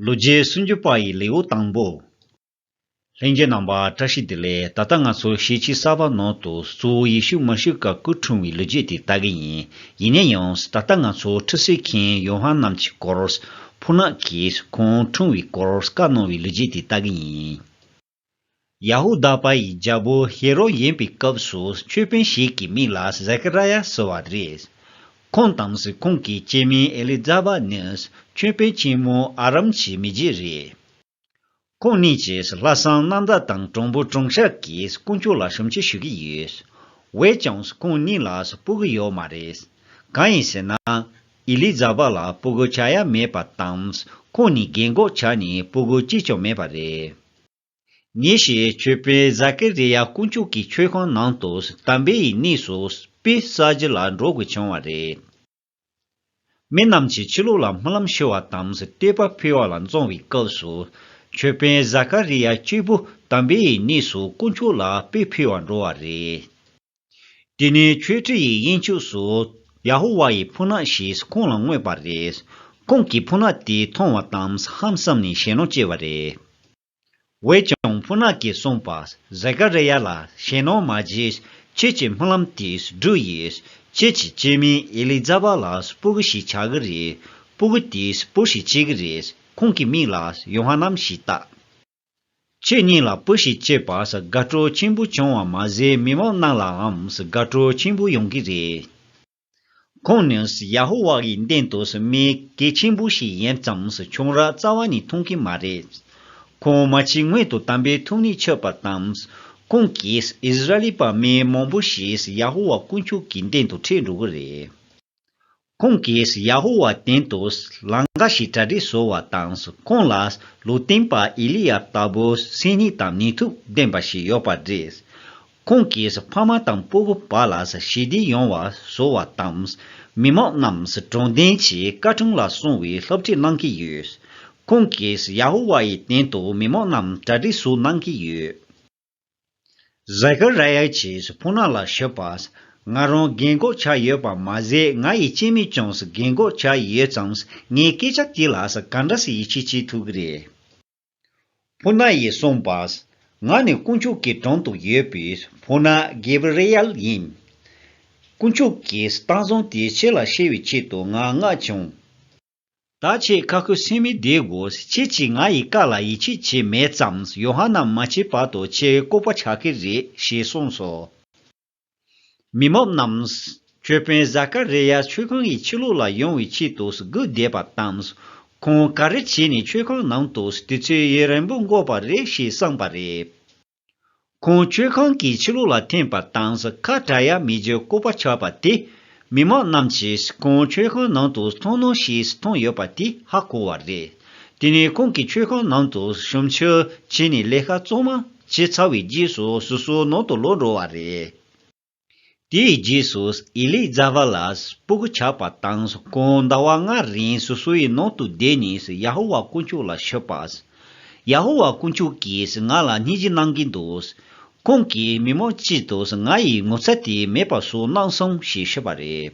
ལོ་བརྒྱའི་སུམ་ཅུ་པ་ཡི་ལེའུ་དང་པོ། ལྷན་རྒྱས་ནང་པ་བཀྲ་ཤིས་དེ་ལས་ད་ལྟ་ང་ཚོ་ཤེས་ཀྱི་གསར་པ་ནང་དུ་གཙོ་བོ་ཡེ་ཤུ་མ་ཞུ་ཀ་སྐུ་འཁྲུངས་བའི་ལོ་རྒྱུས་དེ་ལྟ་གི་ཡིན་ཡིན་ན་ཡང་ད་ལྟ་ང་ཚོ་ཁྲི་སི་མཁན་ཡོ་ཧན་རྣམས་ཀྱི་སྐོར་ཕུ་ནག་གིས་ཁོང་འཁྲུངས་བའི་སྐོར་བཀའ་གནང་བའི་ལོ་རྒྱུས་དེ་ལྟ་གི་ཡིན། ཡ་ཧུ་དཱ་པ་ཡི་རྒྱལ་པོ་ཧེ་རོ་ཡིན་པའི་སྐབས་སུ་ཆོས་དཔོན་ཞིག་གི་མིང་ལ་ཟེ་ཀ་ར་ཡ་ཟེར་བ་རེད། ཁོང་དང་གཟུགས་ཁོང་གི་སྐྱེས་དམན་ཨེ་ལི་ཛ་བཱ་ནི་ཆོས་དཔོན་ཆེན་མོ་ཨ་རམ་གྱི་མི་རྗེ་རེད། ཁོང་གཉིས་ཀྱིས་ལྷ་བསང་གནམ་བདག་དང་གྲོང་འབུ་གྲོང་ཤར་གྱི་དཀོན་མཆོག་ལ་ཞུམ་བྱེད་ཞུ་གི་ཡོད། འོད་ཀྱང་ཁོང་གཉིས་ལ་སྤུ་གི་ཡོད་མ་རེད། གང་ཡིན་ཟེར་ན། ཨི་ལི་ཛ་བྷ་ལ་སྤོ་སྒུལ་བྱ་ཡ་མེད་པ་དང་ཁོང་ནི་རྒན་གོག་ཆགས་ནས་སྤོ་སྒུལ་གཅིག་ཀྱང་མེད་པ་རེད། ཉིན་ཞིག་ཆོས་དཔོན་ཛ་ཀེ་རེ་ཡ་དཀོན་མཆོག་གི་མཆོད་ཁང་ནང་དུ་དམ་པའི་ཡི་གནས་སུ་པེ་ས་ཇི་ལ་འགྲོ་དགོས་བྱུང་བ་རེད། མི་རྣམས་ཀྱིས་ཕྱི་ལོགས་ལ་སྨོན་ལམ་ཞུ་བ་དང་བསྟོད་པ་ཕུལ་བ་ལ་བཙོང་བའི་སྐབས་སུ། ཆོས་དཔོན་ཛ་ཀ་རེ་ཡ་གཅིག་པུ་དམ་པའི་ཡི་གནས་སུ་དཀོན་མཆོག་ལ་དཔེ་ཕུལ་བར་འགྲོ་བ་རེད། དེ་ནས་ཁྱོད་ཁྲི་ཡི་གཡས་འཁྱུགས་སུ། ཡ་ཧོ་ཝཱ་ཡི་ཕུ་ནག་ཞིག་ཁོང་ལ་བསྔོས་པ་རེད། ཁོང་གིས་ཕུ་ནག་དེ་མཐོང་བ་དང་ཧམ་བསམ་ནས་ཞེད་སྣང་སྐྱེས་པ་རེད། འོན་ཀྱང་ཕུ་ནག་གིས་གསུངས་པ། ཟེ་ཀ་རེ་ཡཱ་ལ་ཞེད་སྣང་མ་བྱེད། ཁྱེད་ཀྱི་སྨོན་ལམ་དེས་འགྲུབ་ཡོད། ཁྱེད་ཀྱི་སྐྱེས་དམན་ཨེ་ལི་ཛ་བཱ་ལ་སྤུ་གུ་ཞིག་ཆགས་ཀྱི་རེད། སྤུ་གུ་དེས་སྤུ་ཞིག་བྱེད་ཀྱི་རེད། ཁོང་གི་མིག་ལ་ཡོ་ཧ་ནན་ཞེས་བཏགས། ཁྱེད་གཉིས་ལ་པུ་ཞིག་བཅས་པ་ཟ་དགའ་སྤྲོ་ཆེན་པོ་བྱུང་བ་མ་ཟད་མི་མང་རྣམས་ལའང་ཟ་དགའ་སྤྲོ་ཆེན་པོ་ཡོང་གི་རེད། ཁོང་ནི་ཡ་ཧོ་ཝཱ་ཡི་འདེམས་དོ་ཟ་མི་གལ་ཆེན་པོ་ཞིག་ཡིན་ཙམ་ཆུང་རགས་རྩ་བ་ནས་མཐོང་གི་མ་རེད། ཁོང་མ་འཆི་སྔོན་དུ་དམ་པའི་ཐུགས་ནས་ཆོད་པ་དང། ཁོང་གིས་ཨིསི་རཱཨེལ་པ་མི་མང་པོ་ཞིག་ཡ་ཧོ་ཝཱ་དཀོན་མཆོག་གི་འདེམས་དུ་འཁྲིད་འགྲོ་གི་རེད། ཁོང་གིས་ཡ་ཧོ་ཝཱའི་སྟེང་དུ་ལང་ཀ་ཞིག་གྲ་སྒྲིག་བཟོ་བ་དང་ཁོང་ལ་ལུས་རྟེན་པ་ཨེ་ལི་ཡཱབ་ལྟ་བུ་སེམས་ནུས་དང་ནུས་མཐུ་ལྡན་པ་ཞིག་ཡོད་པ་རེད། ཁོང་གིས་ཕ་མ་དང་སྤོ་བོ་བ་ལ་ཞི་བདེ་ཡོང་བ་བཟོ་བ་དང། མི་མང་རྣམས་གྲོང་སྡེ་ཆེའི་སྐར་གྲངས་ལ་སོང་བའི་སློབ་ཁྲིད་གནང་གི་ཡོད། ཁོང་གིས་ཡ་ཧོ་ཝཱའི་སྟེང་དུ་མི་མང་རྣམས་གྲ་སྒྲིག་བཟོ་གནང་གི་ཡོད། གཟའ་ཀཱི་ར་ཡའི་ཆེས་སུ་ཕུག་ན་ལ་ཞུ་པ། ང་རང་རྒན་གོག་ཆགས་ཡོད་པ་མ་ཟད་ང་ཡི་སྐྱེས་མའི་ཀྱང་སུ་རྒན་གོག་ཆགས་ཡོད་ཙང་ངའི་སྐད་ཆ་དེ་ལ་སུ་ག་འདྲ་སུ་ཡིད་ཆེས་བྱེད་ཐུབ་ཀི་རེད། ཕུག་ན་ཡིས་གསུངས་པ། ང་ནི་དཀོན་མཆོག་གི་དྲུང་དུ་ཡོད་པའི་ཕུག་ན་གེ་བི་རེ་ཡལ་ཡིན། དཀོན་མཆོག་གིས་སྟངས་བཟང་དེ་ཁྱེད་ལ་བཤད་བའི་ཆེད་དུ་ང་མངགས་བྱུང། ད་ཁྱེད་ཁ་ཁུ་སིམ་མེར་བསྡད་དགོས་ཁྱེད་ཀྱིས་ང་ཡི་བཀའ་ལ་ཡིད་ཆེས་བྱས་མེད་ཙམས་ཡོ་ཧ་ན་མ་བྱས་བར་དུ་ཁྱེད་ལྐུགས་པ་ཆགས་ཀྱི་རེད་ཞེས་གསུངས་སོ། མི་མོ་རྣམས། ཁྱོད་དཔོན་བཟའ་ཀ་རེ་ཡ་ཆོས་ཁང་གི་ཕྱི་ལོགས་ལ་ཡོང་བའི་ཆེད་དུ་སྒུག་བསྡད་པ་དང། ཁོང་ག་རེ་བྱས་ནས་ཆོས་ཁང་ནང་དུ་དུས་ཚོད་ཡུན་རིང་པོ་འགོར་བ་རེད་ཞེས་བསམས་པ་རེད། ཁོང་མཆོད་ཁང་གི་ཕྱི་ལོགས་ལ་འཐེན་པ་དང་ཟ་ཁ་གྲ་ཡ་མི་རྗེ་བཀོད་པ་ཆགས་པ་དེས་མི་མང་རྣམས་ཀྱིས་ཁོང་མཆོད་ཁང་ནང་དུ་འཚང་སྣང་ཞིག་མཐོང་ཡོད་པ་དེ་ཧ་གོ་བ་རེད། དེ་ནས་ཁོང་གི་མཆོད་ཁང་ནང་དུ་ཞུམ་ཕྱིར་བྱས་ནས་ལས་ཀ་གཙང་མ་བྱས་ཚར་བའི་རྗེས་སུ་སོ་སོའི་ནང་དུ་ལོག་འགྲོ་བ་རེད། དེའི་རྗེས་སུ་ཨེ་ལི་ཛ་བྷ་ལ་སྤུ་གུ་ཆགས་པ་དང་གོང་ཟླ་བ་ལྔ་རིང་སོ་སོའི་ནང་དུ་བསྡད་ནས་ཡ་ཧོ་ཝཱ་དཀོན་མཆོག་ལ་ཤོད་པ། ཡ་ཧོ་ཝཱ་དཀོན་མཆོག་གིས་ང་ལ་སྙིང་རྗེ་གནང་གིན་འདུག་ཁོང་གིས་མི་མང་སྤྱི་དང་ང་ཡི་ངོ་ཚ་དེ་མེད་པ་བཟོ་གནང་སོང་ཞེས་ཤོད་པ་རེད།